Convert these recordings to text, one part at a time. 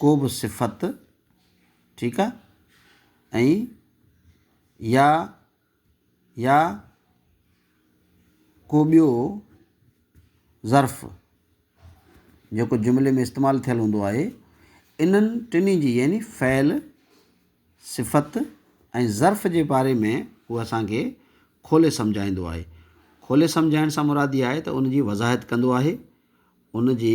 ڪو به صفت ٺيڪ آ ۽ يا يا ڪو ٻيو ظرف جيڪو جملي ۾ استعمال ٿيل هوندو آهي انهن ٽنهي جي يعني فعل صفت ۽ ظرف جي باري ۾ هو اسانکي کولي سمجهائيندو آهي کولي سمجهائڻ سان مراد اها آهي ته ان جي وضاحت ڪندو آهي ان جي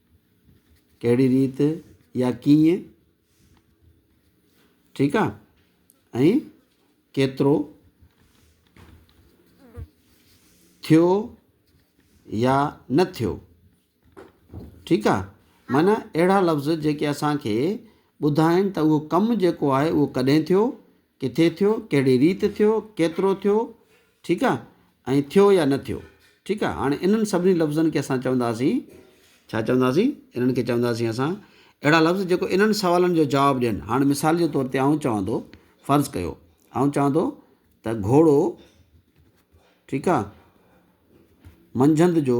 ڪهڙي ريت يا ڪيئن ٺيڪ آ ۽ ڪيترو ٿيو يا نه ٿيو ٺيڪ آ معنيٰ اهڙا لفظ جيڪي اسان کي ٻڌائين ته اهو ڪم جيڪو آهي اهو ڪڏهن ٿيو ڪٿي ٿيو، ڪهڙي ريت ٿيو، ڪيترو ٿيو، ٺيڪ آ، ۽ ٿيو يا نه ٿيو، ٺيڪ آ، هاڻي انهن سڀني لفظن کي اسان چونداسين، ڇا چونداسين؟ انهن کي چونداسين اسان اهڙا لفظ جيڪو انهن سوالن جو جواب ڏين، هاڻ مثال جي طور تي آئون چوان ٿو، فرض ڪيو آئون چوان ٿو ته گهوڙو، ٺيڪ آ، منجهند جو.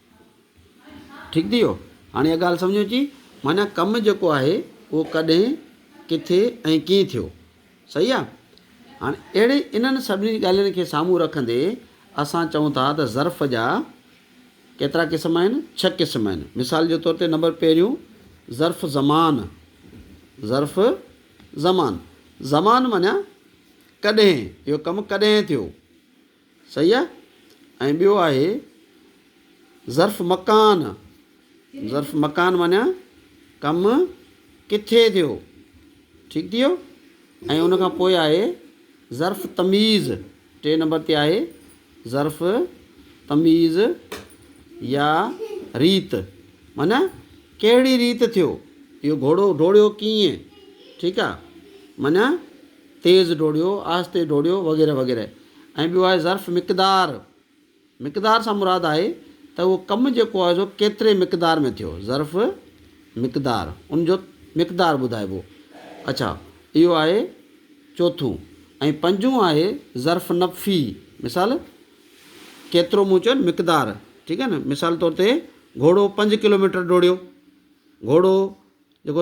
ٺيڪ ٿي ويو. هاڻي اها ڳالهه سمجهه ۾ اچي معنيٰ ڪم جيڪو آهي اهو ڪڏهن، ڪٿي ۽ ڪيئن ٿيو. صحيح آ. هاڻي اهڙي انهن سڀني ڳالهين کي سامهون رکندي اسان چئون ٿا ته ظرف جا ڪيترا قسم آهن؟ ڇهه قسم آهن. مثال جي طور تي نمبر پهريون ظرف زمان، ظرف زمان، زمان معنيٰ ڪڏهن، اهو ڪم ڪڏهن ٿيو. صحيح آ ۽ ٻيو آهي ظرف مڪان ظرف مڪان معنيٰ ڪم ڪٿي ٿيو ٺيڪ ٿي ويو ۽ ان کان پوء آهي ظرف تميز ٽي نمبر تي آهي ظرف تميز يا ريت معنيٰ ڪهڙي ريت ٿيو اهو گهوڙو ڊوڙيو ڪيئن ٺيڪ آ معنيٰ تيز ڊوڙيو، آهستي ڊوڙيو وغيره وغيره ۽ ٻيو آهي ظرف مقدار، مقدار سان مراد آهي ته اهو ڪم جيڪو آهي سو ڪيتري مقدار ۾ ٿيو، ظرف مقدار ان جو مقدار ٻڌائبو اڇا اهو آهي چوٿون ۽ پنجون آهي ظرف نفي مثال ڪيترو مون چيو مقدار ٺيڪ آهي نه مثال طور تي گهوڙو پنج ڪلوميٽر ڊوڙيو گهوڙو جيڪو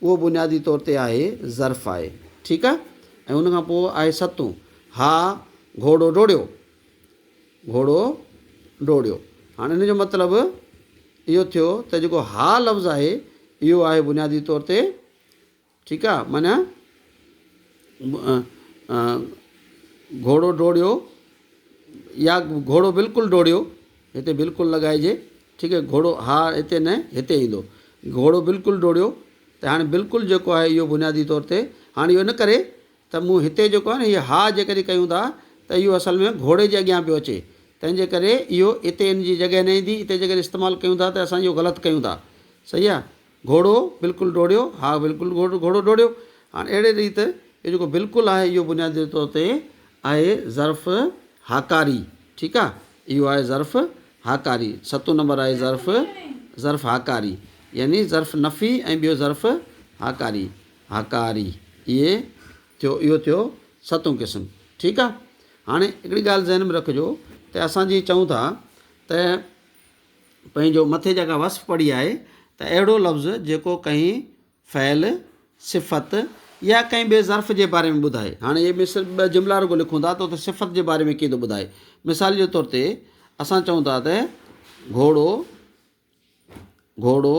اهو بنيادي طور تي آهي ظرف آهي ٺيڪ آهي ۽ ان کان پوء آهي ستون ها گهوڙو ڊوڙيو گهوڙو ڊوڙيو هاڻ ان جو مطلب اهو ٿيو ته جيڪو ها لفظ آهي اهو آهي بنيادي طور تي ٺيڪ آهي معنيٰ گهوڙو ڊوڙيو يا گهوڙو بلڪل ڊوڙيو هتي بلڪل لڳائجي ٺيڪ آهي گهوڙو، ها هتي نه هتي ايندو. گهوڙو بلڪل ڊوڙيو ته هاڻي بلڪل جيڪو آهي اهو بنيادي طور تي هاڻي اهو نه ڪري ته مون هتي جيڪو آهي نه هي ها جيڪڏهن ڪيون ٿا ته اهو اصل ۾ گهوڙي جي اڳيان پيو اچي تنهن جي ڪري اهو اتي ان جي جڳهه نه ايندي اتي جيڪڏهن استعمال ڪيون ٿا ته اسان اهو غلط ڪيون ٿا صحيح آهي گهوڙو بلڪل ڊوڙيو، ها بلڪل گهوڙو ڊوڙيو. هاڻ اهڙي ريت هي جيڪو بلڪل آهي اهو بنيادي طور تي آهي ظرف هاڪاري ٺيڪ آ اهو آهي ظرف هاڪاري ستون نمبر آهي ظرف ظرف هاڪاري يعني ظرف نفي ۽ ٻيو ظرف هاڪاري هاڪاري اهي ٿيو اهو ٿيو ستون قسم ٺيڪ آ هاڻي هڪڙي ڳالهه ذهن ۾ رکجو ته اسان جي چئون ٿا ته پنهنجو مٿي جيڪا وصف پڙهي آهي ته اهڙو لفظ جيڪو ڪنهن فعل، صفت يا ڪنهن ٻئي ظرف جي باري ۾ ٻڌائي. هاڻ اهي ۾ صرف ٻه جملا رڳو لکون ٿا ته اتي صفت جي باري ۾ ڪيئن ٿو ٻڌائي. مثال جي طور تي اسان چئون ٿا ته گهوڙو، گهوڙو،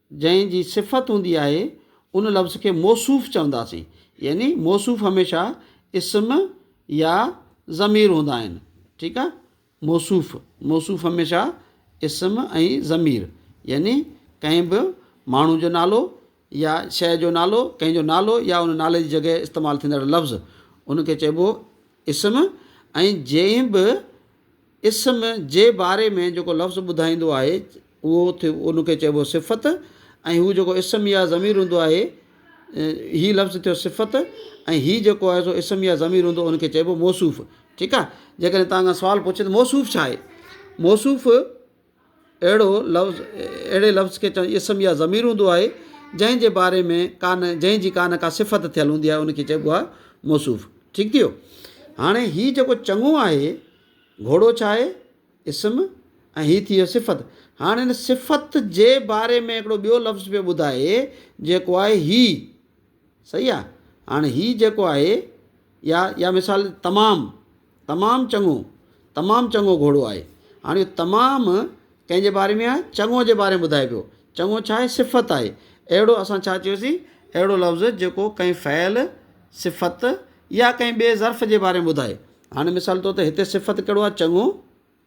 جنهن جي صفت هوندي آهي ان لفظ کي موصوف چونداسين يعني موصوف هميشه اسم يا ضمير هوندا آهن ٺيڪ آهي موصوف موصوف هميشه اسم ۽ ضمير يعني ڪنهن به ماڻهو جو نالو يا شيء جو نالو ڪنهن جو نالو يا ان نالي جي جڳهه استعمال ٿيندڙ لفظ ان کي چئبو اسم ۽ جنهن به اسم جي باري ۾ جيڪو لفظ ٻڌائيندو آهي اهو ان کي چئبو صفت ۽ هو جيڪو اسم يا ضمير هوندو آهي هي لفظ ٿيو صفت ۽ هي جيڪو آهي سو اسم يا ضمير هوندو ان کي چئبو موصوف ٺيڪ آهي جيڪڏهن تهان کان سوال پڇي ته موصوف ڇا آهي موصوف اهڙو لفظ اهڙي لفظ کي چون اسم يا ضمير هوندو آهي جنهن جي باري ۾ ڪا نه جنهن جي ڪا نه ڪا صفت ٿيل هوندي آهي ان کي چئبو آهي موصوف ٺيڪ ٿي ويو هاڻي هي جيڪو چڱو آهي گهوڙو ڇا آهي اسم ۽ هي ٿي ويو صفت هاڻي ان صفت جي باري ۾ هڪڙو ٻيو لفظ پيو ٻڌائي جيڪو آهي هي صحيح آ هاڻي هي جيڪو آهي يا يا مثال تمام تمام چڱو تمام چڱو گهوڙو آهي هاڻي اهو تمام ڪنهن جي باري ۾ آهي چڱو جي باري ۾ ٻڌائي پيو چڱو ڇا آهي صفت آهي اهڙو اسان ڇا چيوسين اهڙو لفظ جيڪو ڪنهن فعل صفت يا ڪنهن ٻئي ظرف جي باري ۾ ٻڌائي هاڻي مثال طور تي هتي صفت ڪهڙو آهي چڱو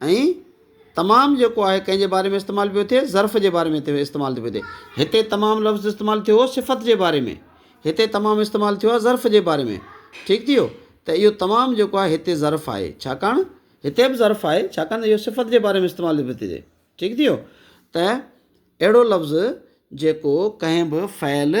۽ تمام جيڪو آهي ڪنهن جي باري ۾ استعمال پيو ٿئي ظرف جي باري ۾ ٿيو استعمال ٿيو پيو ٿئي هتي تمام لفظ استعمال ٿيو هو صفت جي باري ۾ هتي تمام استعمال ٿيو آهي ظرف جي باري ۾ ٺيڪ ٿي ويو ته اهو تمام جيڪو آهي هتي ظرف آهي ڇاڪاڻ هتي به ظرف آهي ڇاڪاڻ اهو صفت جي باري ۾ استعمال پيو ٿي ٺيڪ ٿي ويو ته اهڙو لفظ جيڪو ڪنهن به فعل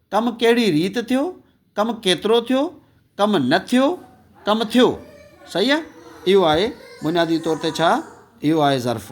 ڪم ڪهڙي ريت ٿيو، ڪم ڪيترو ٿيو، ڪم نه ٿيو، ڪم ٿيو. صحيح آ اهو آهي بنيادي طور تي ڇا اهو آهي ظرف.